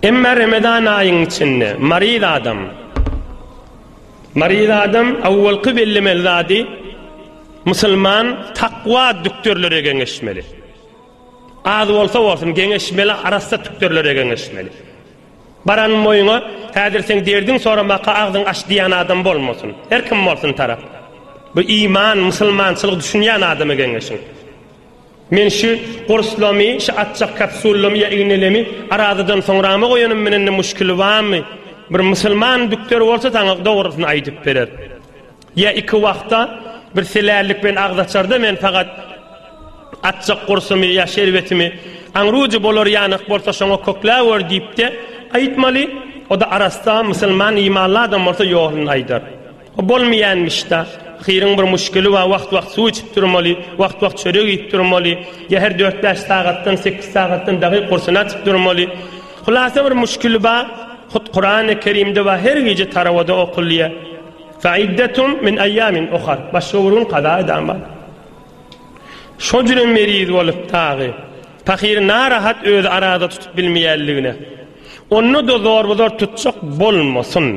Emma Remezan aýyň içinde maryz adam maryz adam awwalky bellemeli zady musulman takwa dükterlere geňeşmeli. Az bolsa bolsun geňeşmeli arassa dükterlere geňeşmeli. Baran moýuna häzir sen derdiň soramaka agzyň aç diýen adam bolmasyn. Her kim bolsun tarap. Bu iman, musulmançylyk düşünýän adama geňeşiň. Men şü gurslamy, şü atjak kapsullamy ýa ignelemi arazadan soňrama goýanym menende muşkili bamy? Bir musulman dükter bolsa saňa dogrusyny aýdyp berer. Ýa iki wagta bir selällik bilen agzaçarda men fagat atjak gursumy ýa şerbetimi aňrujy bolar ýanyk bolsa şoňa kökläwer diýipde aýtmaly. Oda arassa musulman imanly adam bolsa ýoluny aýdar. O bolmaýanmyşda. Ahyryň bir muşkili bar, wagt-wagt suw içip durmaly, wagt-wagt çörek iýip durmaly, ýa her dört-bäş sagatdan, sekiz sagatdan dagy gursyny açyp durmaly. Hulasa bir muşkili bar. Hut Kurany Kerimde bar, her gije tarawada okulýar. Fe iddetum min eýamin ohar. Başga bir gün kaza edan bar. Şo jüri meriz bolup dagy. Pahyr narahat özi arada tutup bilmeýänligine. Onda-da zorbazor tutjak bolmasyn.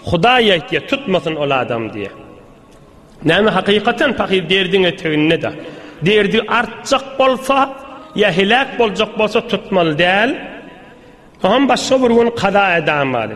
Hudaý aýtýar, tutmasyn ol adam diýýär. Näme hakykatan pahyr derdiň eteginde-de. Derdi artjak bolsa, ýa heläk boljak bolsa tutmaly däl. Oňam başga bir gün kaza edamady.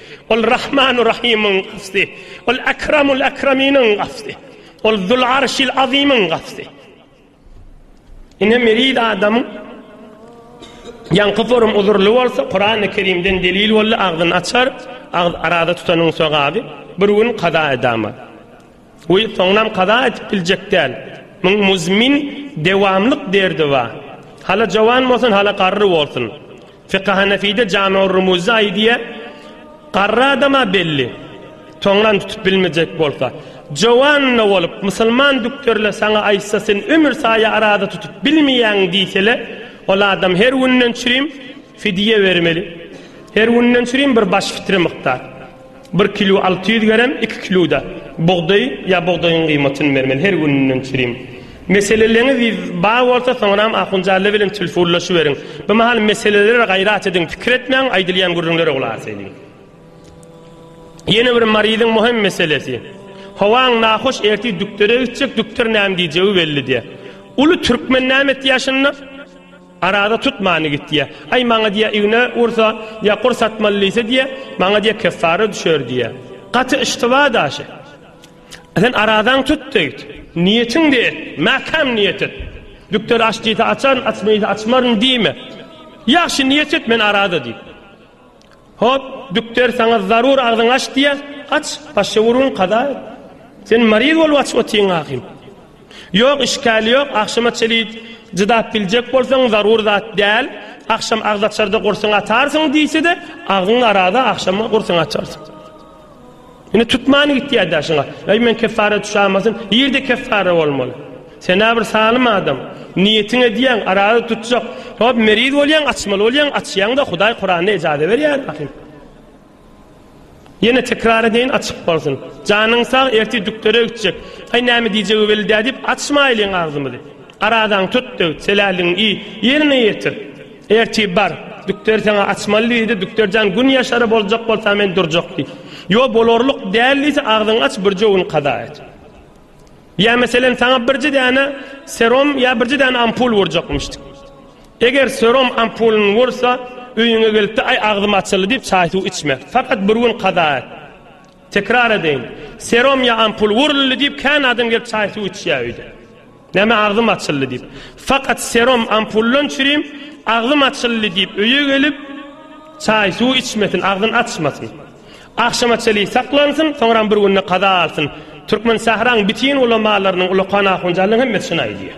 Ol Rahmanu Rahymyň Gawsy, ol Akramul Akraminiň Gawsy, ol Zul Arşil Azymyň Gawsy. Ine meriz adamyň ýaňky forum uzurly bolsa, Kurany Kerimden delil boldy, agzyny açar, agz arada tutanyň sogaby, bir gün kaza edama. Goý, soňunam kaza etip biljek däl. Muň muzmin, dewamlyk derdi bar. Hala jowan bolsun, hala garry bolsun. Fiky Hanefide Jame-u Rumuzda aýdýa, Garry adam-a belli, soňunam tutup bilmejek bolsa. Jowan-da bolup, musulman dükterle saňa aýtsa, sen ömür saýa araza tutup bilmeýäň diýsele, ol adam her günden çürim fidýe bermeli. Her günden çürim bir baş fitre mukdar. Bir kilo alty ýüz gerem, iki kiloda bugdaý ýa bugdaýyň gyýmatyny bermeli, her gününden çürim. Meseleleňiz bar bolsa, soňram Ahunjalla bilen tilfunlaşyberiň. Bu mahal meselelere gaýrat ediň, pikir etmäň, aýdylýan gürrüňlere gulak aseliň. Ýene bir maryzyň möhem meselesi. Howaň nahoş, ertir dükdere gitjek, dükder näme diýjegi belli däl. Uly türkmen näme etýär şunda? Arada tutmany git diýýä. Aý, maňa diýýä, igne ursa, ýa kur satmaly diýse diýýä, maňa diýýä, keffara düşer diýýä. Gaty yştyba daşy. Sen aradaň tut diýdi. Niýetiňde et, mäkäm niýet et. Dükder aç diýse açaryn, açma diýse açmaryn diýme. Ýagşy niýet et, men arada diýdi. Hop, dükder saňa zarur agzyňy aç diýýä, aç, başga urgun kaza et. Sen maryz bolup aç otyň ahym. Ýok, işgäl ýok, agşama çeli cydap biljek bolsaň zarur zat däl, agşam agzaçarda gursyňy atarsyň diýse-de, agzyň arada agşama gursyňy açarsyň. Indi tutman gitýär daşyňa. Eý men keffara düşämasyn, ýerde keffara bolmaly. Sen-ä bir salym adam. Niýetiň edýäň, araza tutjak. Hop, meriz bolýaň, açmaly bolýaň, açýaň-da, Hudaý Kuranda ejaza berýär ahyryn. Ýene tekrar edeýin, açyk bolsun. Janyň sag, ertir düklere gitjek. Aý, näme diýjegi belli däl diýip, açmaýlyň agzymyzy. Arazaňy tut-da git, seläligiňi iý, ýerine ýetir. Ertip bar, dükderi saňa açmaly diýdi, dükder jan gün ýaşary boljak bolsa men durjak diý. Ýo bolarlyk däl diýse agzyňy aç birje gün kaza et. Ýa meselen saňa birje däne serom ýa birje däne ampul urjakmyşdyk. Eger serom ampulyny ursa öýüňe gelipde aý agzym açyldy diýip çaý suw içme. Fakat bir gün kaza et. Tekrar edeýin, serom ýa ampul uruldy diýip kän adam gelip çaý suw içýär öýde. Näme agzym açyldy diýip. Fakat serum ampullan çürim agzym açyldy diýip öýe gelip çaý suw içmesin, agzyn açmasyn. Agşama çeli saklansyn, soňram bir günde kaza alsyn. Türkmen sähraň bitin ulamalarynyň, ulakan ahunjanlaryň hemmesi şuny aýdýar.